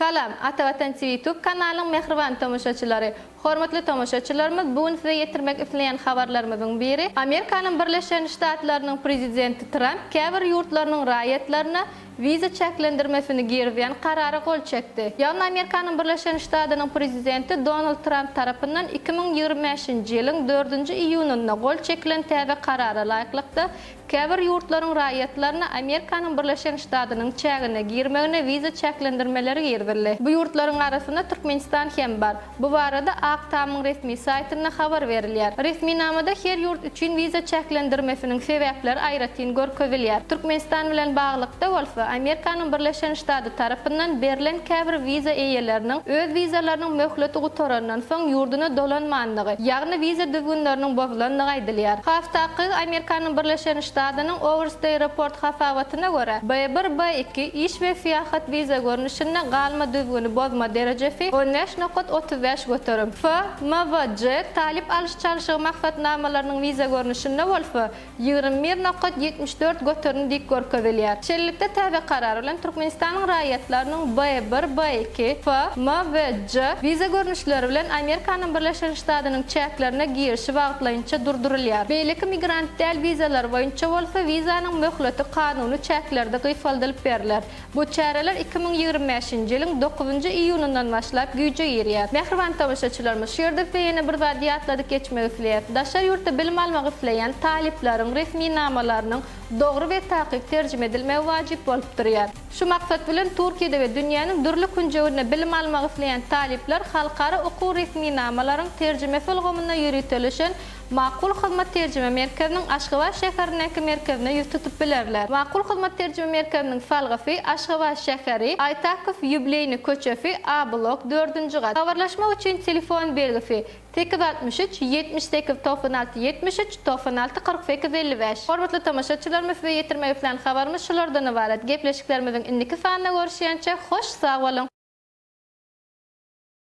Salam, Ata Watan TV YouTube kanalynyň mähriban tomaşaçylary! Hormatly tomaşaçylarymyz, bu gün size ýetirmek isleýän habarlarymyzyň biri, Amerikanyň Birleşen Ştatlarynyň Prezidenti Tramp käbir ýurtlarynyň raýatlaryna wiza çäklendirmesini girizýän karara gol çekdi. Ýagny Amerikanyň Birleşen Ştadynyň prezidenti Donald Tramp tarapyndan iki müň ýigrimi bäşinji ýylyň dördünji iýunynda gol çekilen täze karara laýyklykda, käbir ýurtlaryň raýatlaryna Amerikanyň Birleşen Ştadynyň çägine girmegine wiza çäklendirmeleri girizildi. Bu ýurtlaryň arasynda Türkmenistan hem bar. Bu barada Ak tamyň resmi saýtynda habar berilýär. Resminamada her ýurt üçin wiza çäklendirmesiniň sebäpleri aýratyn görkezilýär. Türkmenistan bilen baglylykda bolsa, Amerikanyň Birleşen Ştady tarapyndan berlen käbir wiza eýeleriniň öz wizalarynyň möhleti gutarandan soň ýurduna dolanmandygy, ýagny wiza düzgünleriniň bozulandygy aýdylýar. Has takygy, Amerikanyň Birleşen Ştadynyň Overstay Report hasabaty, Maslahatyna görä, B-bir, B-iki, iş we syýahat wiza görnüşinde, galma düzgüni bozma derejesi, on bäş nokat otuz bäş göterim, F, M we J, talyp alyş-çalşygy maksatnamalarynyň wiza görnüşinde bolsa, ýigrimi bir nokat ýetmiş dört göterim dik görkezilýär. Şeýlelikde, täze karar bilen Türkmenistanyň raýatlarynyň B-bir, B-iki, F, M we J wiza görnüşleri bilen Amerikanyň Birleşen Ştadynyň çäklerine girişi wagtlaýynça durdurylýar. Beýleki migrant. Däl wizalar boýunça bolsa wizanyň möhleti kanuny çäklerde gysgaldylyp berler. Bu çäreler iki müň ýigrimi bäşinji ýylyň dokuzynjy iýunyndan başlap güýje girýär. Mähriban tomaşaçylarymyz, şu ýerde size ýene bir zady ýatladyp geçmek isleýäs. Daşary ýurtda bilim almak isleýän talyplaryň resminamalarynyň dogry we takyk terjime edilmegi wajyp bolup durýar. Şu maksat bilen Turkiýede we dünýäniň dürli künjeginde bilim almak isleýän talyplar halkara okuw resminamalaryň terjimesi ulgamynda ýöriteleşen Makul Hyzmat Terjime Merkeziniň Aşgabat şäherindäki merkezine ýüz tutup bilerler. Makul Hyzmat Terjime Merkeziniň salgysy Aşgabat şäheri, Aýtakow ýubileýny köçesi, A blok, dördünji gat. Habarlaşmak üçin telefon belgisi, sekiz altmyş üç, ýetmiş sekiz, togsan alty, ýetmiş üç, togsan alty, kyrk sekiz, elli bäş. Hormatly tomaşaçylarymyz size ýetirmek islän habarymyz şulardan ybarat. Gepleşiklerimiziň indiki sanynda görüşýänçä hoş sag boluň!